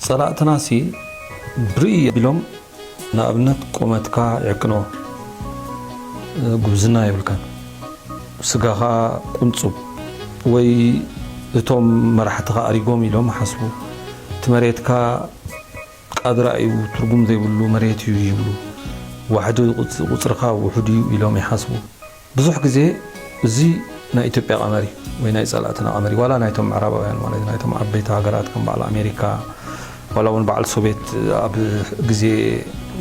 ጸላእትናሲ ብርእይ ኣቢሎም ንኣብነት ቁመትካ ይዕቅንዎ ጉብዝና የብልካን ስጋኻ ቁንጹብ ወይ እቶም መራሕትኻ ኣሪጎም ኢሎም ይሓስቡ እቲ መሬትካ ቃድራ እዩ ትርጉም ዘይብሉ መሬት እዩ ይብሉ ዋሕዲ ቁጽርኻ ውሑድ እዩ ኢሎም ይሓስቡ። ብዙሕ ግዜ እዚ ናይ ኢትዮጵያ ቀመር እዩ ወይ ናይ ጸላእትና ቀመር እዩ ዋላ ናይቶም ምዕራባውያን ማለት እዩ ናይቶም ዓበይቲ ሃገራት ከም በዓል ኣሜሪካ ዋላ እውን በዓል ሶቤት ኣብ ግዜ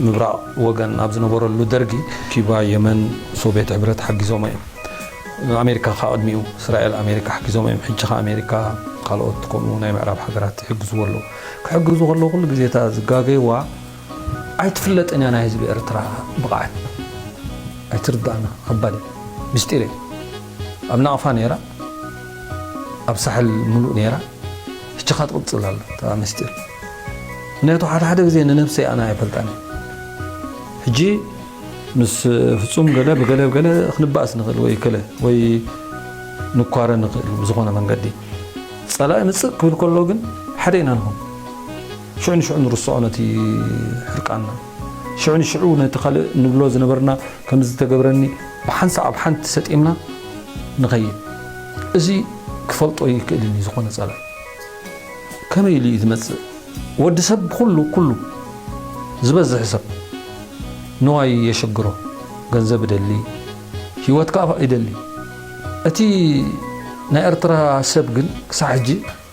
ምብራቕ ወገን ኣብ ዝነበረሉ ደርጊ ኪባ የመን ሶቤት ሕብረት ሓጊዞሞ እዮም ኣሜሪካ ከ ቅድሚኡ እስራኤል ኣሜሪካ ሓጊዞሞ እዮም ሕጂ ከ ኣሜሪካ ካልኦት ከምኡ ናይ ምዕራብ ሃገራት ይሕግዝዎ ኣለዉ ክሕግዙ ከለዉ ኩሉ ግዜ እታ ዝጋገይዋ ኣይትፍለጥን እያ ናይ ህዝቢ ኤርትራ ብቅዓት ኣይትርዳኣና ከባድ እዩ ምስጢር እዩ ኣብ ናቅፋ ነይራ ኣብ ሳሕል ሙሉእ ነይራ ሕጂ ከኣ ትቅጽል ኣላ እታ ምስጢር ምክንያቱ ሓደ ሓደ ግዜ ንነብሰይ ኣነ ኣይፈልጣን እየ ሕጂ ምስ ፍጹም ገለ ብገለ ብገለ ክንባእስ ንክእል ወይ ከለ ወይ ንኳረ ንክእል ብዝኾነ መንገዲ ጸላኢ ምጽእ ክብል ከሎ ግን ሓደ ኢና ንኹን ሽዑ ንሽዑ ንርስዖ ነቲ ሕርቃንና። ሽዑ ንሽዑ ነቲ ካልእ ንብሎ ዝነበርና ከም ዝተገብረኒ ብሓንሳእ ኣብ ሓንቲ ሰጢምና ንኸይድ። እዚ ክፈልጦ ኣይክእልን እዩ ዝኾነ ጸላኢ ከመይ ኢሉ እዩ ዝመጽእ ወዲ ሰብ ብኹሉ ኩሉ ዝበዝሕ ሰብ ንዋይ የሸግሮ ገንዘብ እደሊ ሂወት ከኣ ይደሊ እቲ ናይ ኤርትራ ሰብ ግን ክሳዕ ሕጂ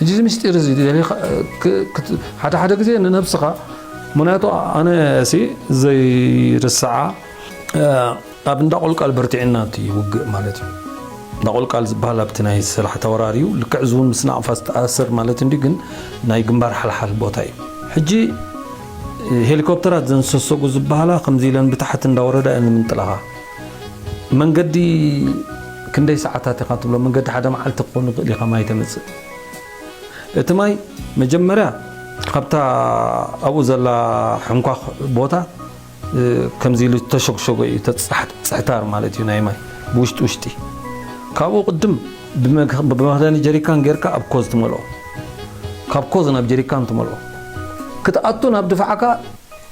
ሕጂ እዚ ምስጢር እዚ ሓደ ሓደ ግዜ ንነብስኻ ምክንያቱ ኣነ ሲ ዘይርስዓ ኣብ እንዳ ቆልቃል በርቲዕና እቲ ውግእ ማለት እዩ እንዳ ቆልቃል ዝበሃል ኣብቲ ናይ ሰላሕ ተወራር እዩ ልክዕ እዚ እውን ምስ ናቕፋ ዝተኣሰር ማለት እንዲ ግን ናይ ግንባር ሓልሓል ቦታ እዩ ሕጂ ሄሊኮፕተራት ዘንሰሰጉ ዝበሃላ ከምዚ ኢለን ብታሕቲ እንዳወረዳ እየን ዝምንጥላኻ መንገዲ ክንደይ ሰዓታት ኢኻ ትብሎ መንገዲ ሓደ መዓልቲ ክኾን ይኽእል ኢኻ ማይ ተምጽእ እቲ ማይ መጀመርያ ካብታ ኣብኡ ዘላ ሕንኳኽ ቦታ ከምዚ ኢሉ ተሸግሸጎ እዩ ተጽሕታር ማለት እዩ ናይ ማይ ብውሽጢ ውሽጢ ካብኡ ቅድም ብመኽደኒ ጀሪካን ጌርካ ኣብ ኮዝ ትመልኦ ካብ ኮዝ ናብ ጀሪካን ትመልኦ ክትኣቱ ናብ ድፋዕካ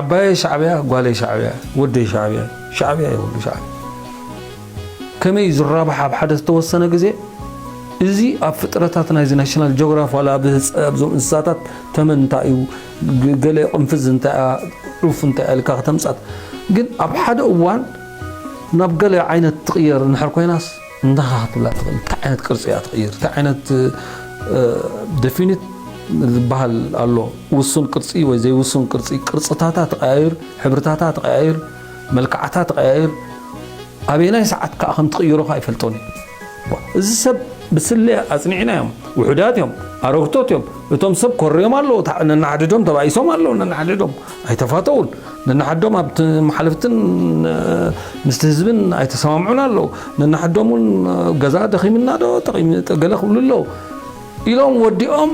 ዓባየይ ሻዕቢያ ጓለይ ሻዕቢያ ወደይ ሻዕቢያ ሻዕቢያ እዩ ኩሉ ሻዕቢያ ከመይ እዩ ዝራባሕ ኣብ ሓደ ዝተወሰነ ግዜ እዚ ኣብ ፍጥረታት ናይዚ ናሽናል ጂኦግራፍ ዋላ ኣብ ኣብዞም እንስሳታት ተመን እንታይ እዩ ገለ ቅንፍዝ እንታይ እያ ዑፍ እንታይ እያ ኢልካ ከተምጻት ግን ኣብ ሓደ እዋን ናብ ገለ ዓይነት ትቕየር እንድሕር ኮይናስ እንታኻ ክትብላ ትኽእል እንታይ ዓይነት ቅርጺ እያ ትቕይር እንታይ ዓይነት ደፊኒት ዝበሃል ኣሎ ውሱን ቅርጺ ወይ ዘይውሱን ቅርጺ ቅርጽታታ ትቐያይር ሕብርታታ ትቐያይር መልክዓታ ትቐያይር ኣበየናይ ሰዓት ከዓ ከም ትቕይሮኻ ኣይፈልጦን እዩ እዚ ሰብ ብስለያ ኣጽኒዕና እዮም ውሑዳት እዮም ኣረግቶት እዮም እቶም ሰብ ኮርዮም ኣለዉ ነናሓድዶም ተባኢሶም ኣለዉ ነናሓድዶም ኣይተፋተዉን ነንሓዶም ኣብ መሓልፍትን ምስቲ ህዝብን ኣይተሰማምዑን ኣለዉ ነንሓዶም እውን ገዛ ደኺምና ዶ ገለ ክብሉ ኣለዉ ኢሎም ወዲኦም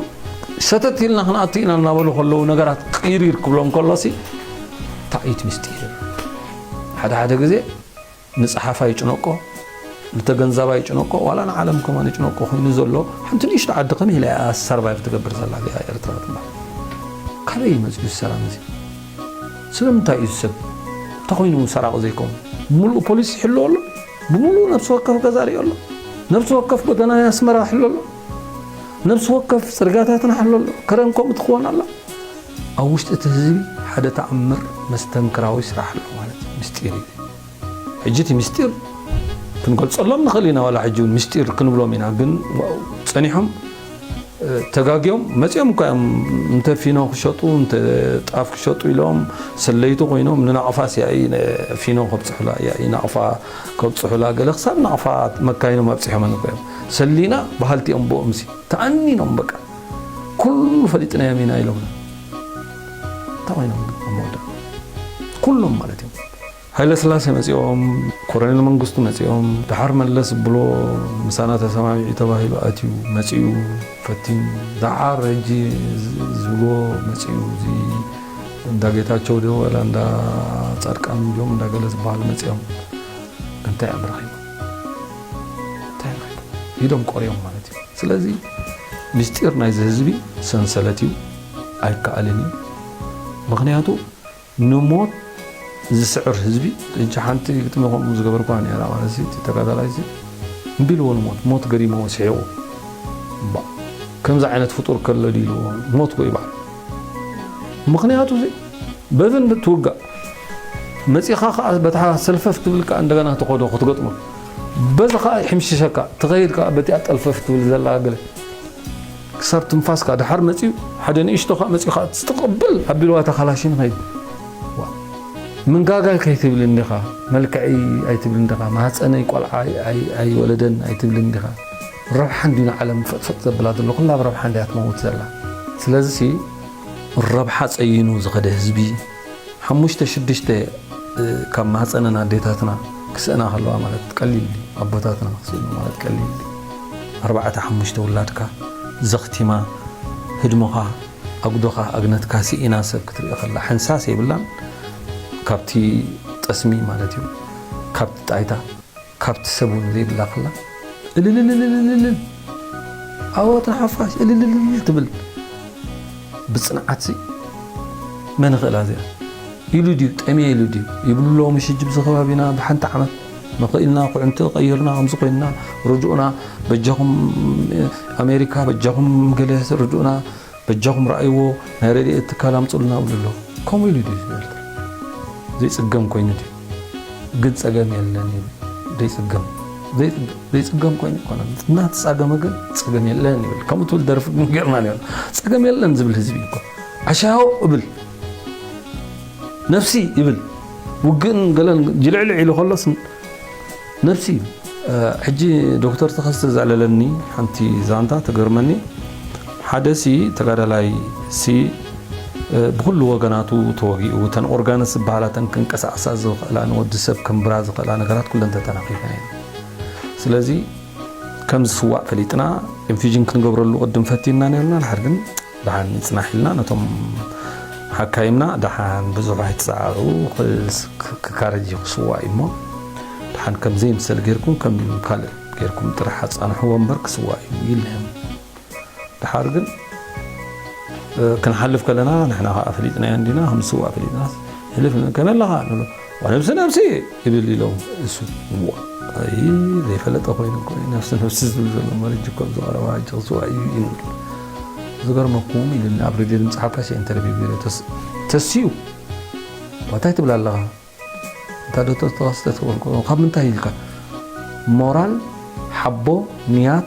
ሰተት ኢልና ክንኣቱ ኢና እናበሉ ከለዉ ነገራት ቅይሪር ክብሎም ከሎሲ እንታይ እዩ እቲ ምስጢር ሓደ ሓደ ግዜ ንጸሓፋይ ይጭነቆ ንተገንዛባይ ይጭነቆ ዋላ ንዓለም ከማን ይጭነቆ ኮይኑ ዘሎ ሓንቲ ንእሽቶ ዓዲ ከመይ ኢላ እያ ሰርቫይቭ ትገብር ዘላ እዚኣ ኤርትራ ትባል ካበይ እዩ መጽኡ ሰላም እዚ ስለምንታይ እዩ ሰብ ተኮይኑ ሰራቂ ዘይኮም ሙሉእ ፖሊስ ይሕልዎ ኣሎ ብሙሉእ ነብሲ ወከፍ ገዛ ሪኦ ኣሎ ነብሲ ወከፍ ጎደና ናይ ኣስመራ ይሕሎ ኣሎ ነብሲ ወከፍ ጽርጋታትና ይሕሎ ኣሎ ከረን ከምኡ ትኽወን ኣላ ኣብ ውሽጢ እቲ ህዝቢ ሓደ ተኣምር መስተንክራዊ ስራሕ ኣሎ ማለት ምስጢር እዩ ሕጂ እቲ ምስጢር ክንገልጸሎም ንኽእል ኢና ዋላ ሕጂ እውን ምስጢር ክንብሎም ኢና ግን ጸኒሖም ተጋግዮም መጺኦም እኳ እዮም እንተ ፊኖ ክሸጡ እንተ ጣፍ ክሸጡ ኢሎም ሰለይቲ ኮይኖም ንናቕፋ ስያኢ ፊኖ ከብጽሑላ ያኢ ናቕፋ ከብጽሑላ ገለ ክሳብ ናቕፋ መካይኖም ኣብጺሖመን እኮ እዮም ሰሊና በሃልቲ እዮም ብኦምሲ ተኣኒኖም በቃ ኩሉ ፈሊጥናዮም ኢና ኢሎምና እንታይ ኮይኖም ኣብ መወዳእታ ኩሎም ማለት እዮም ሃይለስላሴ መፂኦም ኮረኔል መንግስቱ መፂኦም ድሓር መለስ ዝብሎ ምሳና ተሰማሚዑ ተባሂሉ ኣትዩ መፂኡ ፈቲኑ ድሓር ሕጂ ዝብሎ መፂኡ እዚ እንዳ ጌታቸው ዶ ወላ እንዳ ፃድቃን ዶም እንዳ ገለ ዝበሃሉ መፂኦም እንታይ እዮም ረኺቦም ይደንቆርዮም ማለት እዩ ስለዚ ምስጢር ናይዚ ህዝቢ ሰንሰለት እዩ ኣይከኣልን እዩ ምክንያቱ ንሞት ዝስዕር ህዝቢ እጅ ሓንቲ ግጥሚ ከምኡ ዝገበርኳ ነራ ማለት እዚ ተጋዳላይ እዚ እምቢ ኢልዎ ንሞት ሞት ገሪሞ ስሒቑ ከምዚ ዓይነት ፍጡር ከሎ ድልዎ ሞት ኮ ይበሃል ምኽንያቱ እዚ በዚ እንትትውጋእ መፂኻ ከዓ በታ ሰልፈፍ ትብል ከዓ እንደገና ተኸዶ ክትገጥሞ በዚ ከዓ ይሕምሽሸካ ትኸይድ ከዓ በቲኣ ጠልፈፍ ትብል ዘላ ገለ ክሳብ ትንፋስካ ድሓር መፅኡ ሓደ ንእሽቶ ከዓ መፅኡ ከዓ ትስትቕብል ኣቢልዋ እታ ካላሽን ኸይድ ምንጋጋይ ከይትብል እንዲኻ መልክዐይ ኣይትብል እንዲኻ ማህፀነይ ቆልዓ ኣይወለደን ኣይትብል እንዲኻ ረብሓ እንድዩ ንዓለም ፈጥፈጥ ዘብላ ዘሎ ኩላ ብ ረብሓ እንድያ ትመውት ዘላ ስለዚሲ ብ ረብሓ ጸይኑ ዝኸደ ህዝቢ ሓሙሽተ ሽዱሽተ ካብ ማህጸነን ኣዴታትና ክስእና ከለዋ ማለት ቀሊል ድዩ ኣቦታትና ክስእኑ ማለት ቀሊል ድዩ ኣርባዕተ ሓሙሽተ ውላድካ ዘኽቲማ ህድሞኻ ኣጉዶኻ ኣግነትካ ስኢና ሰብ ክትርኢ ከላ ሕንሳስ የብላን ካብቲ ጠስሚ ማለት እዩ ካብቲ ጣይታ ካብቲ ሰብ ውን ዘይብላ ክላ እልልልልልልልል ኣወት ንሓፋሽ እልልልልል ትብል ብጽንዓት ሲ መን ይኽእላ እዚኣ። ኢሉ ድዩ ጠምየ ኢሉ ድዩ ይብሉ ኣለዉ ምሽ ሕጂ ብዚ ከባቢና ብሓንቲ ዓመት መኸኢልና ኩዕንቲ ቀይርና ከምዚ ኮይንና ርድኡና በጃኹም ኣሜሪካ በጃኹም ገለ ርድኡና በጃኹም ረኣይዎ ናይ ረድኤት ትካል ኣምጹልና እብሉ ኣለኹ ከምኡ ኢሉ ድዩ ህዝቢ ኤርትራ ዘይጽገም ኮይኑ ድዩ ግን ጸገም የለን ይብል ዘይጽገም ዘይጽገም ኮይኑ ይኮነ እናተጻገመ ግን ጸገም የለን ይብል ከምኡ ትብል ደርፊ ግን ገርና ነይሩ ጸገም የለን ዝብል ህዝቢ እኮ ዓሻዮ እብል ነፍሲ ይብል ውግእን ገለን ጅልዕልዕ ኢሉ ከሎስ መልሲ፣ ሕጂ ዶክተር ተኸስተ ዘዕለለኒ ሓንቲ ዛንታ ትገርመኒ፣ ሓደ ሲ ተጋዳላይ ሲ ብኹሉ ወገናቱ ተወጊኡ፣ እተን ኦርጋንስ ዝበሃላ እተን ክንቀሳቐሳ ዝኽእላ ንወዲ ሰብ ከንብራ ዝኽእላ ነገራት ኩለን ተተናኺፈን እየን። ስለዚ ከም ዝስዋእ ፈሊጥና ኢንፊዥን ክንገብረሉ ቅድም ፈቲንና ኔርና፣ ድሓር ግን ደሓን ይጽናሕልና ነቶም ሓካይምና ደሓን ብዙሕ ኣይትሰዓሩ ክካረጅ እዩ ክስዋእ እዩ እሞ ደሓን ከም ዘይምሰል ጌርኩም ከም ካልእ ጌርኩም ጥራሕ ኣጻንሕዎ እምበር ክስዋእ እዩ ይልህም ደሓር ግን ክንሓልፍ ከለና ንሕና ከዓ ፈሊጥናዮ እንዲና ከም ዝስዋእ ፈሊጥና ህልፍ ከመይ ኣለኻ ንብሎ ወነብሲ ነብሲ ይብል ኢሎም እሱ ዋይ ዘይፈለጠ ኮይኑ እኮ እዩ ነብሲ ነብሲ ዝብል ዘሎ መርጅ እኮ ዝቐረባ ሕጂ ክስዋ እዩ እዩ ንብል ዝገርመኩም ኢሉኒ ኣብ ሬድዮ ድምፂ ሓፋሽ እየ ኢንተርቪው ገይረ ተስዩ እንታይ ትብል ኣለኻ እንታይ ዶክተር ተኸስተ ትበልኩ ካብ ምንታይ ኢልካ ሞራል ሓቦ ንያት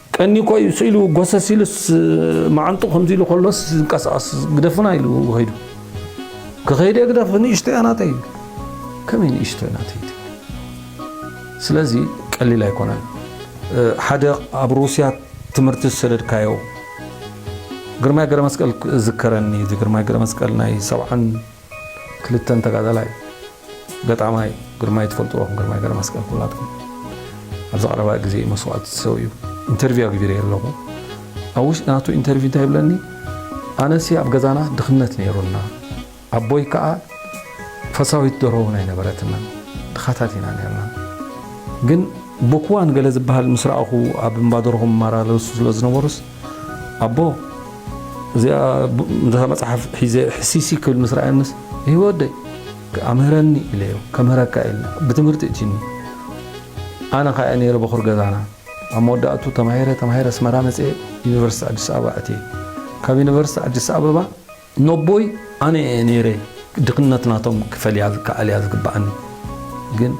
ቀንዩ ኮይ ስኢሉ ጎሰስ ኢሉስ መዓንጥኡ ከምዚ ኢሉ ከሎስ ዝንቀሳቐስ ግደፉና ኢሉ ከይዱ። ክኸይደ ግደፍ ንእሽቶ እያ ናተይ። ከመይ ንእሽቶ እያ ናተይ ትብል? ስለዚ ቀሊል ኣይኮነን። ሓደ ኣብ ሩስያ ትምህርቲ ዝሰደድካዮ ግርማይ ገረመስቀል ዝከረኒ ግርማይ ገረመስቀል ናይ ሰብዓን ክልተን ተጋዳላይ ገጣማይ ግርማይ ትፈልጥዎ ኢኹም ግርማይ ገረመስቀል ኩላትኩም ኣብዚ ቀረባ ግዜ እዩ መስዋእቲ ዝሰውዩ ኢንተርቪው ኣግቢረየ ኣለኹ ኣብ ውሽጢ ናቱ ኢንተርቪው እንታይ ይብለኒ ኣነሲ ኣብ ገዛና ድኽነት ነይሩና ኣቦይ ከዓ ፈሳዊት ደሮ እውን ኣይነበረትና ድኻታት ኢና ነርና ግን ብኩዋን ገለ ዝበሃል ምስ ረኣኹ ኣብ እምባደርኹም ማራለሱ ስለ ዝነበሩስ ኣቦ እዚኣ ነታ መጽሓፍ ሒዘ ሕሲሲ ክብል ምስ ረኣየንስ ይህወ ወደይ ክኣ ምህረኒ ኢለዮ ከምህረካ ኢለ ብትምህርቲ እቲኒ ኣነ ካኣ ነይረ በኹር ገዛና ኣብ መወዳእቱ ተማሂረ ተማሂረ ኣስመራ መጽኤ ዩኒቨርሲቲ ኣዲስ ኣበባ ኣትየ ካብ ዩኒቨርሲቲ ኣዲስ ኣበባ ነቦይ ኣነ እየ ነይረ ድኽነት ናቶም ክፈልያ ዝከኣል እያ ዝግበኣኒ ግን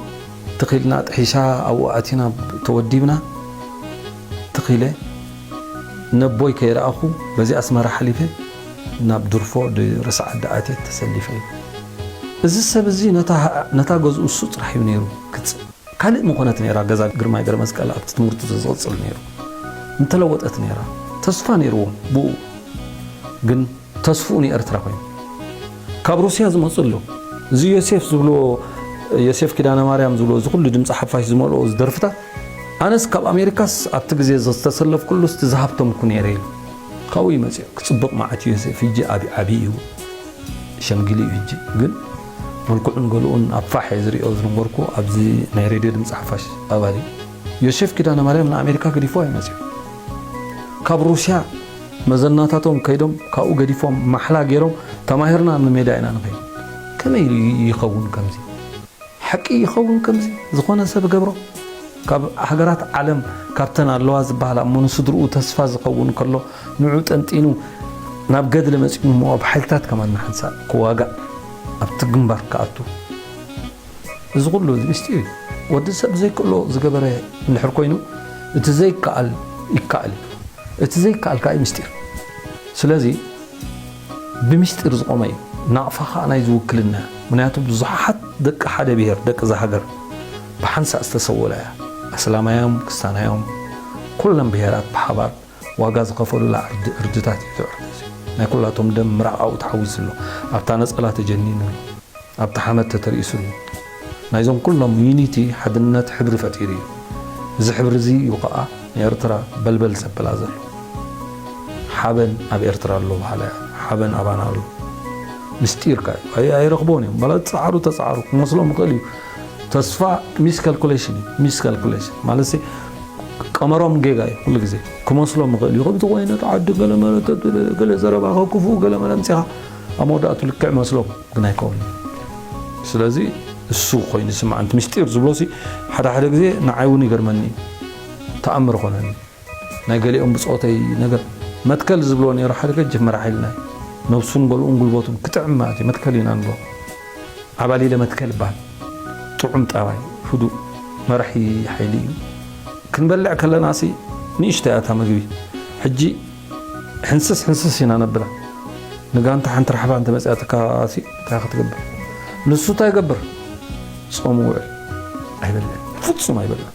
ትኽ ኢልና ጥሒሻ ኣብኡ ኣቲና ተወዲብና ትኽ ኢለ ነቦይ ከይረኣኹ በዚ ኣስመራ ሓሊፈ ናብ ድርፎ ርስዓዲ ኣትየ ተሰሊፈ እዚ ሰብ እዚ ነታ ገዝኡ እሱ ጥራሕ እዩ ነይሩ ክጽ ካልእ ምኾነት ነይራ ገዛ ግርማይ ገረመስቀል ኣብቲ ትምህርቱ ተዝቕጽል ነይሩ ምተለወጠት ነይራ ተስፋ ነይርዎ ብኡ ግን ተስፍኡ ንኤርትራ ኮይኑ ካብ ሩስያ ዝመጹ ኣሎ እዚ ዮሴፍ ዝብልዎ ዮሴፍ ኪዳነ ማርያም ዝብሎ እዚ ኩሉ ድምፂ ሓፋሽ ዝመልኦ እዚ ደርፍታት ኣነስ ካብ ኣሜሪካስ ኣብቲ ግዜ ዝተሰለፍኩሉ ስቲ ዝሃብተምኩ ነይረ ኢሉ ካብኡ እዩ መፂኡ ክፅብቕ መዓት ዮሴፍ ሕጂ ዓብዪ እዩ ሸምጊሉ እዩ ሕጂ ግን መልክዑን ገሉኡን ኣብ ፋሕ እየ ዝሪኦ ዝነበርኩ ኣብዚ ናይ ሬድዮ ድምጺ ሓፋሽ ኣባል እዩ። ዮሴፍ ኪዳነማርያም ንኣሜሪካ ገዲፍዋ እዩ መጺኡ። ካብ ሩስያ መዘናታቶም ከይዶም ካብኡ ገዲፎም ማሕላ ጌሮም ተማሂርና ንሜዳ ኢና ንኸይድ። ከመይ ኢሉ ይኸውን ከምዚ? ሓቂ ይኸውን ከምዚ ዝኾነ ሰብ እገብሮ? ካብ ሃገራት ዓለም ካብተን ኣለዋ ዝበሃላ እሞ ንስድርኡ ተስፋ ዝኸውን ከሎ ንዑ ጠንጢኑ ናብ ገድሊ መጺኡ ንመዋብ ሓይልታት ከማን ንሓንሳእ ክዋጋእ ኣብቲ ግንባር ክኣቱ እዚ ኩሉ ምስጢር እዩ ወዲ ሰብ ዘይክእሎ ዝገበረ እንድሕር ኮይኑ እቲ ዘይከኣል ይከኣል እዩ እቲ ዘይከኣል ከዓ ምስጢር ስለዚ ብምስጢር ዝቆመ እዩ ናቕፋ ከዓ ናይ ዝውክልና እያ ምክንያቱ ብዙሓት ደቂ ሓደ ብሄር ደቂ እዛ ሃገር ብሓንሳእ ዝተሰወላ እያ ኣስላማዮም ክስታናዮም ኩሎም ብሄራት ብሓባር ዋጋ ዝኸፈሉላ ዕርዲ ዕርድታት እዩ እቲ ዕርዲ እዚ ናይ ኩላቶም ደም ምራቕ ኣብኡ ተሓዊስሉ ኣብታ ነጸላ ተጀኒኑሉ ኣብቲ ሓመድ ተተርኢሱሉ ናይዞም ኩሎም ዩኒቲ ሓድነት ሕብሪ ፈጢሩ እዩ እዚ ሕብሪ እዚ እዩ ከኣ ንኤርትራ በልበል ዘብላ ዘሎ ሓበን ኣብ ኤርትራ ኣሎ በሃላይ ሓበን ኣባና ኣሎ ምስጢርካ እዩ ኣይረኽቦን እዮም ማለት ጸዓሩ ተጸዓሩ ክመስሎም ይኽእል እዩ ተስፋ ሚስ ካልኩሌሽን እዩ ሚስ ካልኩሌሽን ማለት ሲ ቀመሮም ጌጋ እዩ ኩሉ ግዜ ክመስሎም ይኽእል እዩ ከምቲ ኮይነት ዓዲ ገለ መረተ ገለ ዘረባ ከክፉ ገለ መለ ምፅኻ ኣብ መወዳእቱ ልክዕ መስሎም ግን ኣይከውን ስለዚ እሱ ኮይኑ ስምዓንቲ ምስጢር ዝብሎሲ ሓደ ሓደ ግዜ ንዓይ እውን ይገርመኒ እዩ ተኣምር ኾነኒ ናይ ገሊኦም ብጾተይ ነገር መትከል ዝብልዎ ነይሩ ሓደ ገጅፍ መራሒ ኢልና እዩ ነብሱን ገልኡን ጉልበቱን ክጥዕም ማለት እዩ መትከል ኢና ንብሎ ዓባሊለ መትከል ይባሃል ጥዑም ጠባይ ህዱእ መራሒ ሓይሊ እዩ ክንበልዕ ከለናሲ ንእሽተይ እያ እታ ምግቢ ሕጂ ሕንስስ ሕንስስ ኢና ነብላ ንጋንታ ሓንቲ ራሕባ እንተ መጽያትካሲ እንታይ ክትገብር ንሱ እንታይ ይገብር ጾም ውዕል ኣይበልዕን ፍጹም ኣይበልዕን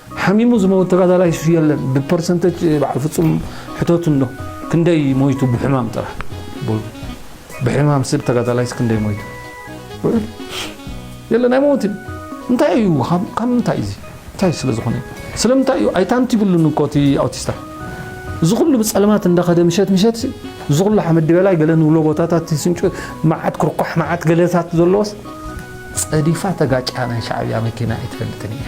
ሓሚሙ ዝመውት ተጋዳላይ ሹፍ የለን ብፐርሰንተጅ በዓል ፍጹም ሕተቱ እንዶ ክንደይ ሞይቱ ብሕማም ጥራሕ በሉ ብሕማም ስብ ተጋዳላይስ ክንደይ ሞይቱ ውዕል የለን ኣይመውትን እንታይ እዩ ካብ ምንታይ እዚ እንታይ ስለ ዝኾነ እዩ ስለምንታይ እዩ ኣይታንት ይብሉን እኮ እቲ ኣውቲስታ እዚ ኩሉ ብፀልማት እንዳኸደ ምሸት ምሸት እዚ ኩሉ ሓመድ ድበላይ ገለ ንብሎ ቦታታት ስንጩ መዓት ክርኳሕ መዓት ገለታት ዘለዎስ ፀዲፋ ተጋጫ ናይ ሻዕብያ መኪና ኣይትፈልጥን እያ